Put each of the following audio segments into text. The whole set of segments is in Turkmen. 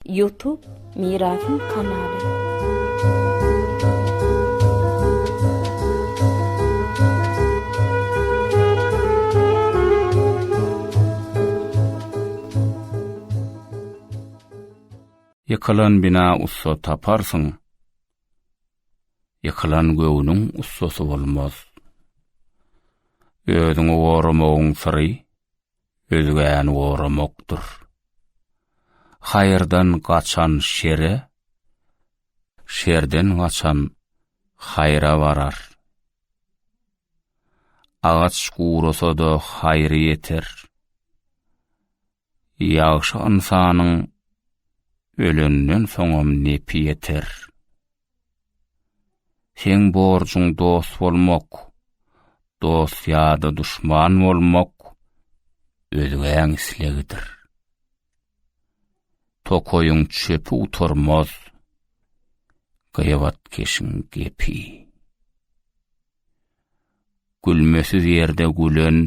Youtube Mirasym kanaly. Ýykylan bina ussa taparsyň. Ýykylan göwnüň ussasy bolmaz. Özüňi goramagyň syry özgäni goramakdyr. Haýyrdan gaçan şere, şerden gaçan haýra barar. Agaç gurasa-da haýry ýeter. Ýagşy ynsanyň ölenden soňam nepi ýeter. Seň borjuň dost bolmak. Dost ýa-da duşman bolmak özgäň islegidir. Tokaýyň çöpi utarmaz. Gyýabat keşiň gepi. Gülmesiz ýerde gülen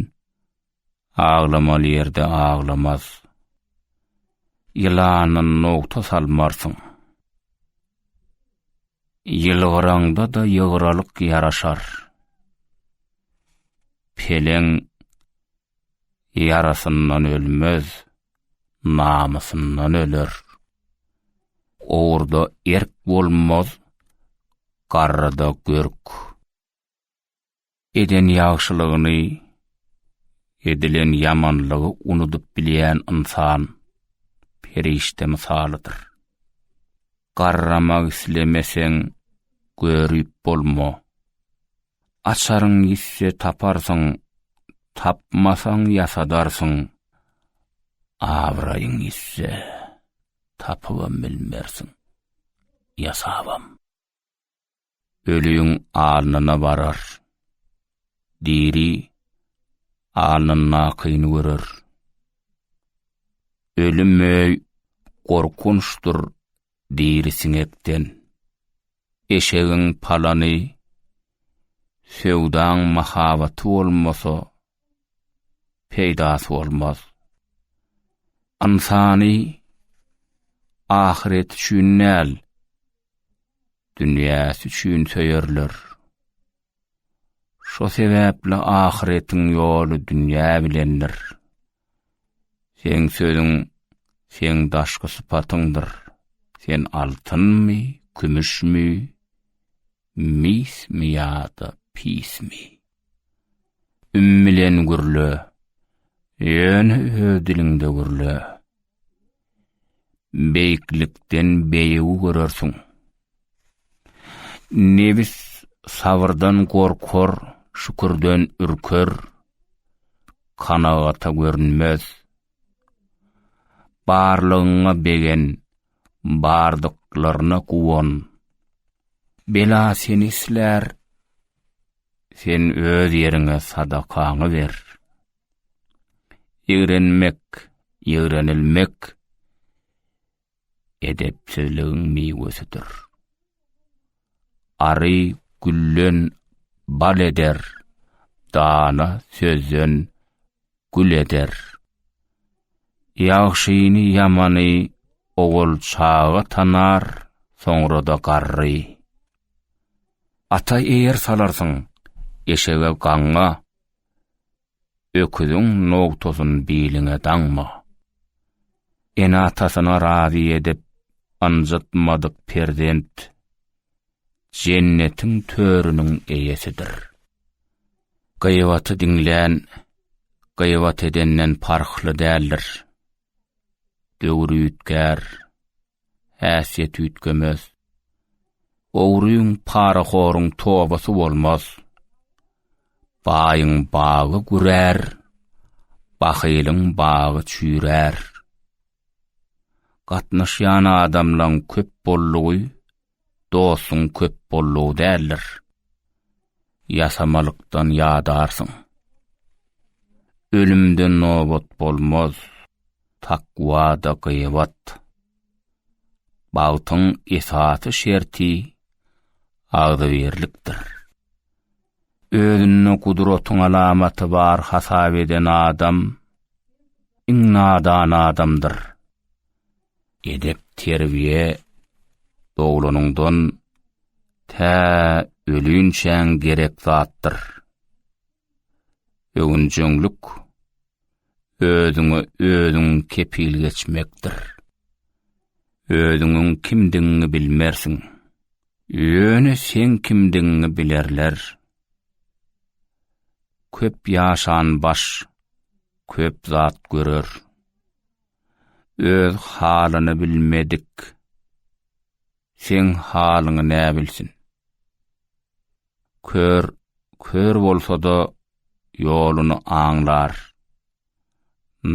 Aglamaly ýerde aglamaz. Ýylana nogta salmarsyň. Ýylgyraňda-da ýygralyk ýaraşar. Peleň ýarasyndan ölmez, namysyndan öler. Ogurda erk bolmaz, garryda görk. Eden ýagşylygyny, edilen ýamanlygy unudyp bilýän ynsan perişde mysalydyr. Garramak islemeseň, görüp bolma. Açaryň ýitse taparsyň, tapmasaň ýasadarsyň. Abraýyň ýitse, tapybam bilmersiň, ýasabam. ölüň alnyna barar. Diri alnyndakyny görer. Ölüm möý gorkunçdyr diri siňekden. Eşegiň palany, söwdaň mahabaty bolmasa, peýdasy bolmaz. Ynsany ahyret üçin näl, dünýäsi üçin söýerler. Şo sebäpli ahyretiň ýoly dünýä bilendir. Seň sözüň, seň daşky sypatyňdyr. Sen altynmy, kümüşmi, mismi ýa-da pismi? Üm bilen gürle. Ýöne öz diliňde gürle. Beýiklikden beýigi görersiň. Nebis sabyrdan gorkar, şükürden ürker, kanagata görünmez. Barlygyňa begen, bardyklaryna guwan. Bela seni islär, Sen öz ýeriňe sadakaňy ber. Ýigrenmek, ýigrenilmek edepsizligiň miwesidir. Ary gülden bal eder, dana sözden gül eder. Ýagşyny-ýamany ogul-çaga tanar, soňra-da garry. Ata eýer salarsyň, eşege gaňňa, öküziň nogtasyn biliňe daňma. Ene-atasyna razy edip, ynjytmadyk perzent Jennetiň törüniň eýesidir. Gyýbaty diňlän gyýbat edenden parhly däldir. Döwür üýtgär, häsiýet üýtgemez. Ogryň, parahoruň tobasy bolmaz. Baýyň bagy gürär, bahylyň bagy çüýrär. Gatnaşýan adamlaň köp boldugy dostuň köp bollugy däldir. Ýasamalykdan ýadarsyň. Ölümden nobat bolmaz, takwa-da gyýbat. Bagtyň esasy şerti agzybirlikdir. Özünde gudratyň alamaty bar hasap eden adam, iň nadan adamdyr. Edep-terbiýe doglanyňdan tä ölünçäň gerek zatdyr. Öwünjeňlik özüňe özüň kepil geçmekdir. Özüňiň kimdigiňi bilmersiň. Ýöne seň kimdigiňi bilerler. Köp ýaşan baş köp zat görer. öz halyny bilmedik seň halyňy nä bilsin? Kör, kör bolsa-da ýoluny aňlar.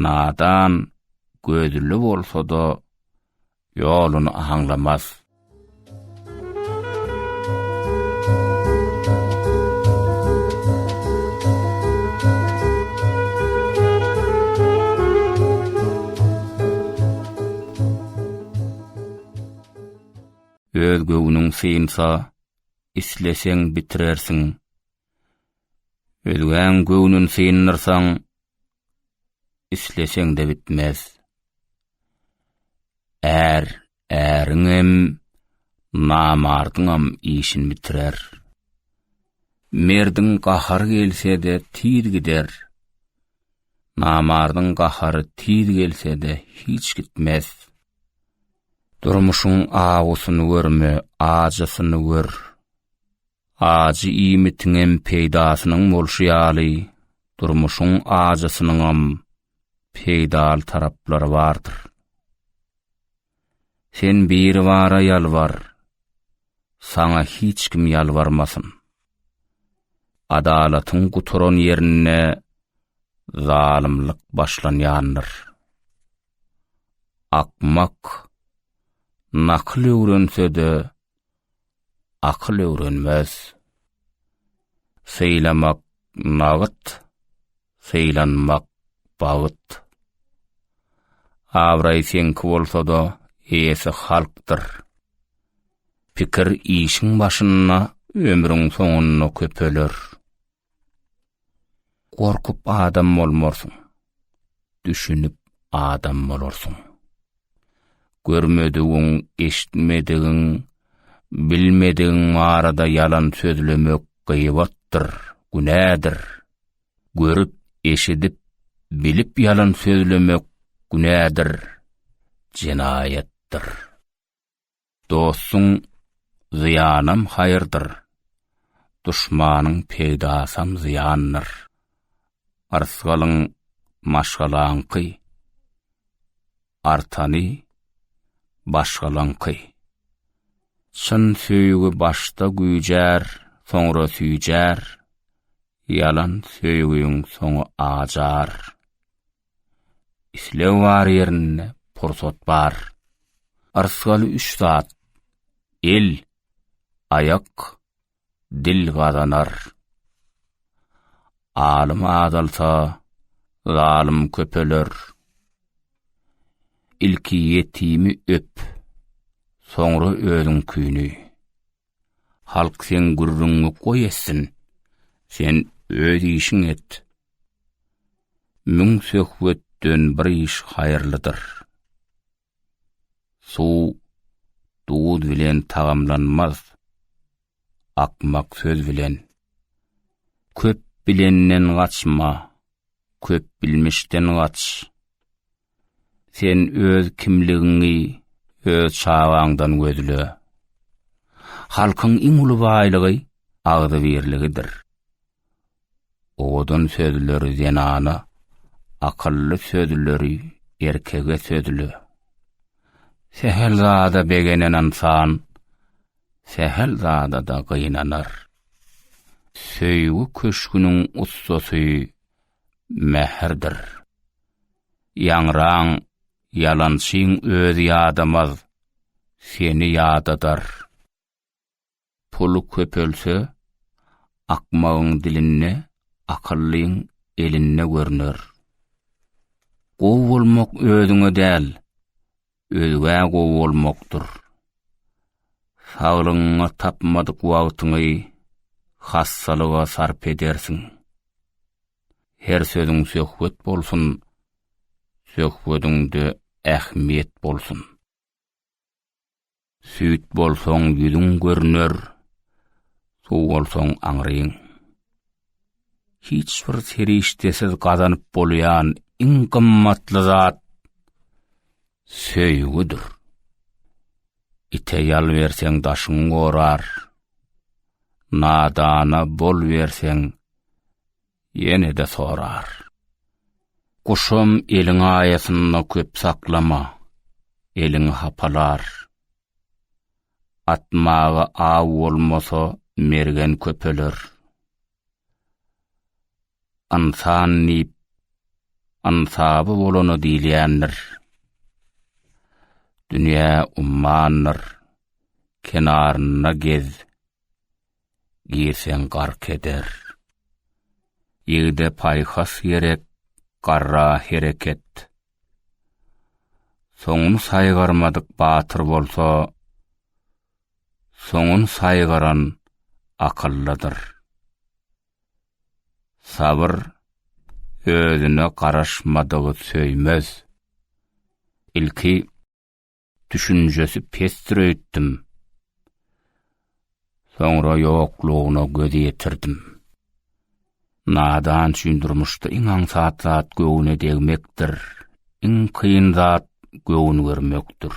Nadan, gözli bolsa-da Ýoluny aňlamaz. Öz göwnüň synsa, isleseň bitirersiň. Özgäň göwnün syndyrsaň, isleseň-de bitmez. Är, äriňem, namardyňam işini bitirer. Merdiň gahary gelse-de tiz gider. Namardyň gahary tiz gelse-de hiç gitmez. Durmuşyň awusyny görme, ajysyny gör. Ajy iýmitiňem peýdasynyň bolşy ýaly, durmuşyň ajysynyňam peýdaly taraplary bardyr. Sen Biribara ýalbar, saňa hiç kim ýalbarmasyn. Adalatyň gutaran ýerinde zalymlyk başlanýandyr. Akmak nakyl öwrense-de, akyl öwrenmez. Sylamak nagyt, sylanmak bagyt. Abraý seňki bolsa-da, eýesi halkdyr. Pikir işiň başynda, ömrüň soňunda köpeler. Gorkup adam bolmarsyň. Düşünip adam bolarsyň. Görmedigiň, eşitmedigiň, bilmedigiň barada ýalan sözlemek gyýbatdyr, günädir. Görüp, eşidip, bilip ýalan sözlemek günädir, jenaýatdyr. Dostuň zyýanam haýyrdyr, duşmanyň peýdasam zyýandyr. Yrsgalyň maşgalaňky, artany başgalaňky. Çyn söýgi başda güýjär, soňra süýjär, ýalan söýgiň soňy acar. Isleg bar ýerinde pursat bar. Yrsgaly üç zat, el, aýak, dil gazanar. Alym azalsa, zalym köpeler. Ilki ýetimi öp, soňra özüňkini. Halk sen gürrüňňi goý etsin, sen öz işiň et. Müň söhbetden bir iş haýyrlydyr. Suw duz bilen tagamlanmaz, akmak söz bilen. Köp bilenden gaçma, köp bilmişden gaç. Sen öz kimligiňi öz çagaňdan gözle. Halkyň iň uly baýlygy agzybirligidir. Owadan sözleri zenana, akylly sözleri erkege sözle. Sähel zada begenen ynsan sähel zada-da gynanar. Söýgi köşgüniň ussasy mähirdir. Ýaňraň, ýalançyň özi ýadamaz, seni ýadadar. Pul köpelse, akmagyň dilinde, akyllyň elinde görner. Gowy bolmak özüňe däl, Özgä gowy bolmakdyr. Saglygyňy tapmadyk wagtyňy hassalyga sarp edersiň. Her sözüň söhbet bolsun, söhbediňde ähmiýet bolsun. Süýt bolsaň ýüzüň görner, suw bolsaň aňryň. Hiç bir serişdesiz gazanyp bolýan iň gymmatly zat söýgüdir. Ite ýal berseň daşyň gorar, nadana bol berseň Ýene-de sorar. Guşam eliň aýasynda köp saklama, eliňi hapalar. Atmaga aw bolmasa, mergen köpeler. Ynsan diýip, ynsaby bolana diýilýändir. Dünýä ummandyr, kenarynda gez. girseň gark eder. Ýigide paýhas gerek, garra hereket. Soňuny saýgarmadyk batyr bolsa, soňuny saýgaran akyllydyr. Sabyr özüne garaşmadygy söýmez. Ilki Düşünjesi pesdir öýtdüm. Soňra ýoklugyna göz ýetirdim. Nadan üçin durmuşda iň aňsat zat göwne degmekdir. Iň kyn zat göwün görmekdir.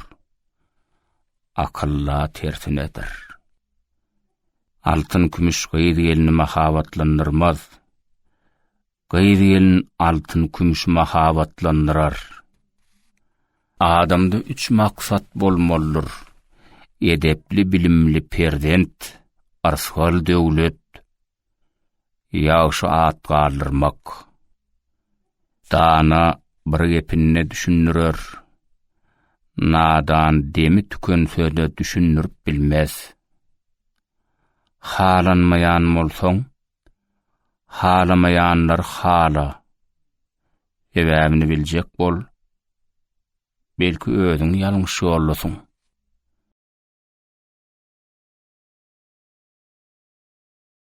Akylla tersinedir. Altyn kümüş gyz gelini mahabatlandyrmaz. Gyz-gelin altyn-kümüş mahabatlandyrar. Adamda üç maksat bolmalydyr, edepli-bilimli perzent, arsgal döwlet, ýagşy at galdyrmak. Dana bir gepinde düşündirer, nadan demi tükense-de düşündirip bilmez. Halanmaýan bolsaň, Halamaýanlar hala. Sebäbini biljek bol. Belki özüň ýalňyş ýoldasyň.